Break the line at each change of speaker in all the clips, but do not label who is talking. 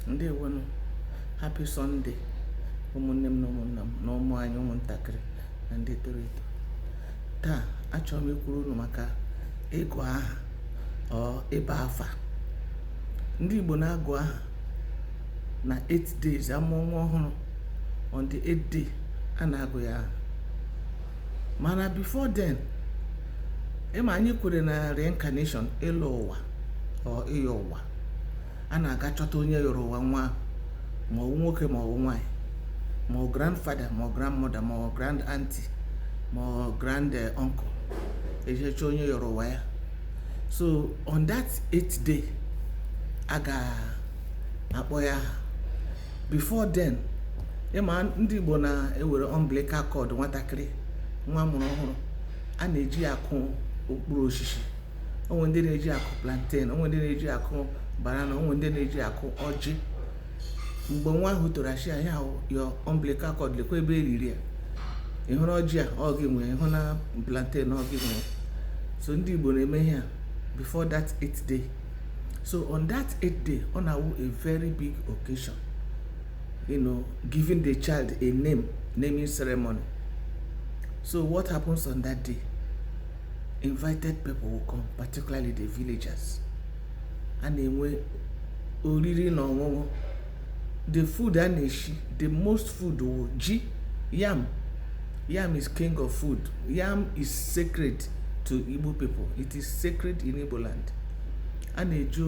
ndewonu happy sunday ụmụnne m na ụmụnna m na ụmụ anyị ụmụntakịrị na ndị toro eto taa achọrọ m ikwuru unu maka ịgụ aha or ịba afa ndị igbo na-agụ aha na 8 days amụọ nwa ọhụrụ on the 8th day a na-agụ ya aha mana before then ịma anyị kwere na reincarnation ịlọ ụwa or ịyọ ụwa a na-aga chọta onye yọrọ ụwa nwa ma ọ wụ nwoke ma ọ wụ nwaanyị ma ọ grandfather ma ọ grandmother ma ọ grand auntie ma ọ grand eh, uncle eje chọọ onye yọrọ ụwa ya so on that eighth day a ga-akpọ ya aha before then ịma ndị Igbo na-ewere umbilical cord nwatakịrị nwa a mụrụ ọhụrụ a na-eji ya akụ okpuru oshishi o nwe ndị na-eji akụ plantain o nwe ndị na-eji akụ banana o nwe ndị na-eji akụ ọjị mgbe nwa ahụ toro a shị ya your umbilical cord lekwa ebe e liri ya ị hụna ọjị a ọ gị nwe ya ị hụna plantain ọ gị nwe ya so ndị Igbo na-eme ihe a before that eighth day so on that eighth day ọ na-awụ a very big occasion you know giving the child a name naming ceremony so what happens on that day invited people will come particularly the villagers a na-enwe oriri na ọṅụṅụ the food a na-eshi the most food wụ ji yam yam is king of food yam is sacred to igbo people it is sacred in igbo land a na-eji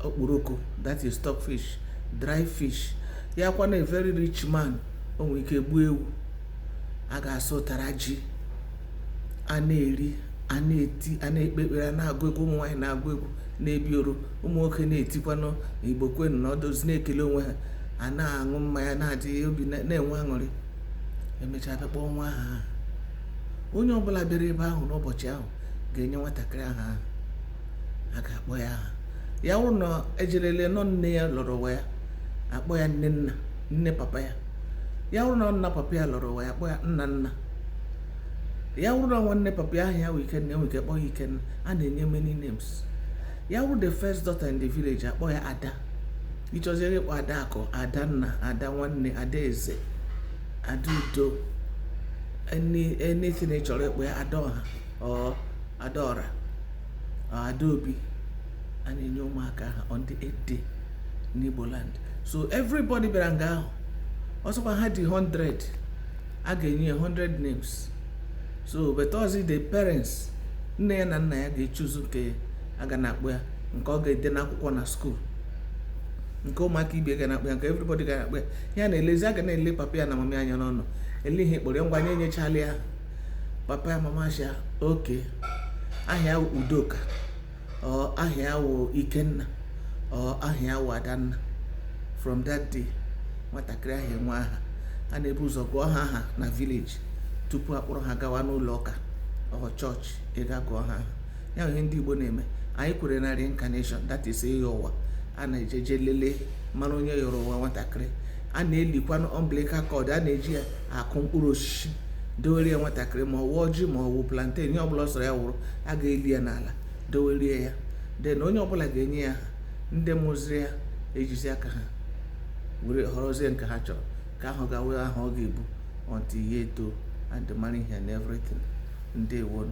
okporoko that is stock fish dry fish ya kwana a very rich man o nwere ike gbuo ewu a ga-asụ ụtara ji a na-eri a na-eti a na-ekpe ekpere a na-agụ egwu ụmụ nwaanyị na-agụ egwu na-ebi oro ụmụ nwoke na-etikwanụ igbo kwenu nọdụzi na-ekele onwe ha a na-aṅụ mmanya na-adị obi na- na-enwe aṅụrị emechaa bịa kpọọ nwa aha onye ọbụla bịara ebe ahụ n'ụbọchị ahụ ga-enye nwatakịrị aha ahụ a ga-akpọ ya aha ya wụrụ na e jere lee na ọ nne ya lọrọ ụwa ya akpọ ya nne nna nne papa ya ya wụrụ na ọ nna papa ya lọrọ ụwa ya akpọ ya nna nna ya wụrụ na nwanne papa ya aha ya wụ ikenna enwe ike kpọọ ya ikenna a na-enye many names ya wụrụ the first daughter in the village akpọ ya ada ị chọzie ịkpọ ada akụ ada nna ada nwanne ada eze ada udo anything ị chọrọ ịkpọ ya ada ọha or ada ọra ada obi a na-enye ụmụaka aha on the eighth day n'Igbo land so everybody bịara nga ahụ ọsọkwa ha dị 100 a ga-enye ya 100 names so but ọọzi the parents nne ya na nna ya ga-echoose nke a ga na-akpọ ya nke ọ ga-ede n'akwụkwọ na school nke ụmụaka ibe ga na-akpọ ya nke everybody ga na-akpọ ya ya na-elezi a ga na-ele papa ya na mama ya anya n'ọnụ ele ihe ị kpọrọ ya ngwa anyị enyechala ya papa ya mama ya sị okay aha ya wụ udoka or aha ya wụ ikenna or aha ya wụ adanna from that day nwatakịrị ahụ enwe aha a na-ebu ụzọ gụọ ha aha na village tupu a kpọrọ ha gawa n'ụlọ ụka or church ịga gụọ ha aha ya ihe ndị igbo na-eme anyị kwere na reincarnation that is ịyọ ụwa a na-eje eje lelee mara onye yọrọ ụwa nwatakịrị a na-elikwanụ umbilical cord a na-eji ya akụ mkpụrụ osisi dowere ya nwatakịrị ma ọ wụ ọjị ma ọ wụ plantain ihe ọbụla ọ sọrọ ya wụrụ a ga-eli ya n'ala dowere ya then onye ọbụla ga-enye ya aha ndị mụziri ya ejizi aka ha were họrọzie nke ha chọrọ nke ahụ ga-awụ aha ọ ga-ebu until ya etoo and mara ihe and everything ndewonu